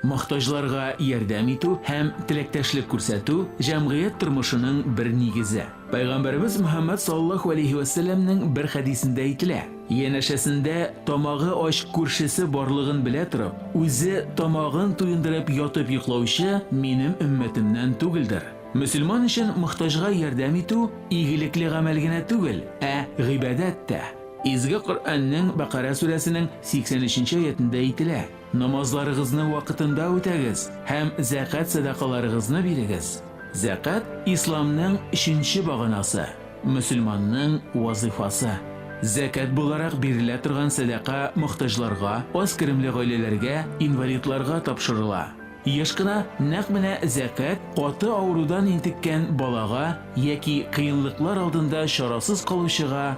Мохтаҗларга ярдәм итү һәм теләктәшлек күрсәтү, җәмгыять тормышының бер нигезе. Пәйгамбәребез Мөхәммәд саллаллаһу алейһи вә сәлләмнең бер хәдисендә әйтелә, Янәшәсендә тамагы ач күршесе барлыгын белә торып, үзе тамагын туендырып ятып йоклаучы минем өммәтемнән түгелдер. Мөселман өчен мохтаҗга ярдәм итү игелекле гамәл генә түгел, ә гыйбадәт тә. Изге Коръәннең Бәкарә сүрәсенең 83 нче аятендә әйтелә, Намазларыгызны вакытында үтәгез һәм зәкәт-сәдакаларыгызны бирегез. Зәкәт, Исламның өченче баганасы, мөселманның вазыйфасы. Зәкәт буларак бирелә торган сәдака мохтаҗларга, аз керемле гаиләләргә, инвалидларга тапшырыла. Еш кына нәкъ менә зәкәт каты авырудан интеккән балага яки кыенлыклар алдында чарасыз калучыга,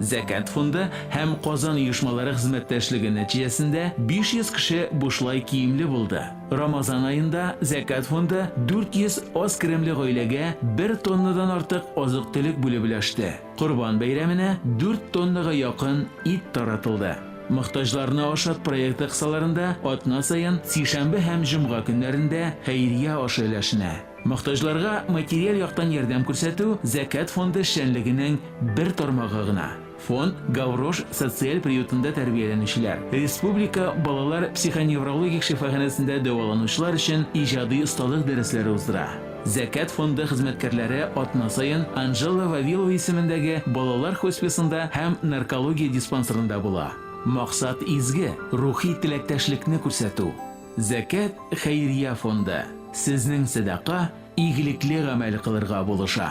Зәкят фонды һәм Казан оешмалары хезмәттәшлеге нәтиҗәсендә 500 кеше бушлай киемле булды. Рамазан аенда Зәкят фонды 400 аз керемле гаиләгә бер тоннадан артык азык-төлек бүлеп өләште. Корбан бәйрәменә дүрт тоннага якын ит таратылды. Мохтаҗларны ашат проекты кысаларында атна саен сишәмбе һәм җомга көннәрендә хәйрия ашы өләшенә. Мохтаҗларга материаль яктан ярдәм күрсәтү Зәкят фонды эшчәнлегенең бер тармагы гына. Фонд Гаврош социаль приютында тәрбияләнүчеләр, республика балалар психоневрологик шифаханәсендә дәваланучылар өчен иҗади осталык дәресләре уздыра. Зәкят фонды хезмәткәрләре атна саен Анжела Вавилова исемендәге балалар хосписында һәм наркология диспансерында була. Максат изге, рухи теләктәшлекне күрсәтү. Зәкят хәйрия фонды сезнең сәдака, игелекле гамәл кылырга булыша.